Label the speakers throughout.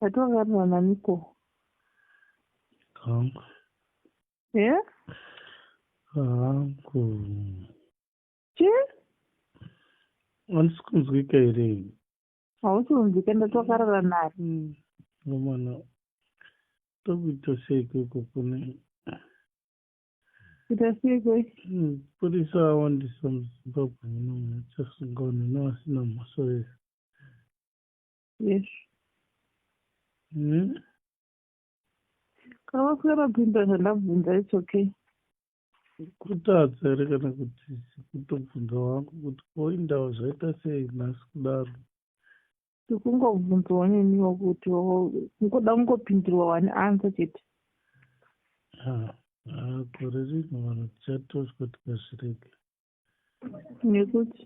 Speaker 1: Watongarira naniko?
Speaker 2: Hangu.
Speaker 1: Yeah? Hangu.
Speaker 2: Chi? Handisi kunzwika here? Hausi
Speaker 1: kunzwika ndatokarara nani? Nomana.
Speaker 2: Tokuita sei ikoko kune
Speaker 1: kuita sei koi? Hmm, purisa awandisa
Speaker 2: muzimbabwe muno muchasunga unene vasina mhosva here? Yes. Hmm.
Speaker 1: Kana vasina mapinda zvandabvunza it's okay.
Speaker 2: Kutadza here kana kuti kutobvunza wangu kuti koindawo zvaita sei nhasi kudaro? Ndikungobvunzawo
Speaker 1: neniwo kuti kungoda kungopindirwa wani ansa chete. Ah,
Speaker 2: ah, gore rino vanhu tichatoswa tikazvirega.
Speaker 1: nekuti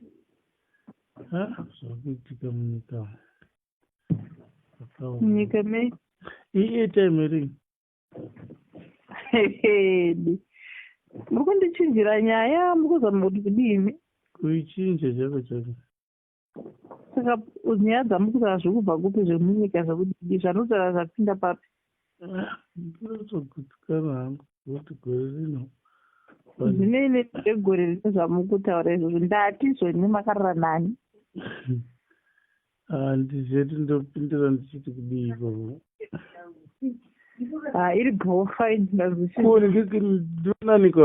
Speaker 1: ha
Speaker 2: zvakuitika munyika munyika
Speaker 1: me iitime
Speaker 2: ri hedi
Speaker 1: muri kundichinjira nyaya muri kuzama kuti kudini kuichinja
Speaker 2: chako chako
Speaker 1: saka nyaya dzamukutaa zviri kubva kupi zvemunyika zvekudii zvanotaura zvapinda papi ndinotogutsikana
Speaker 2: hangu kuti gore rino zvinei
Speaker 1: nezvegore rino zvamukutaura izvozvo ndatizvo ine makarara nani
Speaker 2: handizveti ah, ndopindira ndichiti kudii ikoko ah,
Speaker 1: iri bhofa inazvikuonekekinonanikwa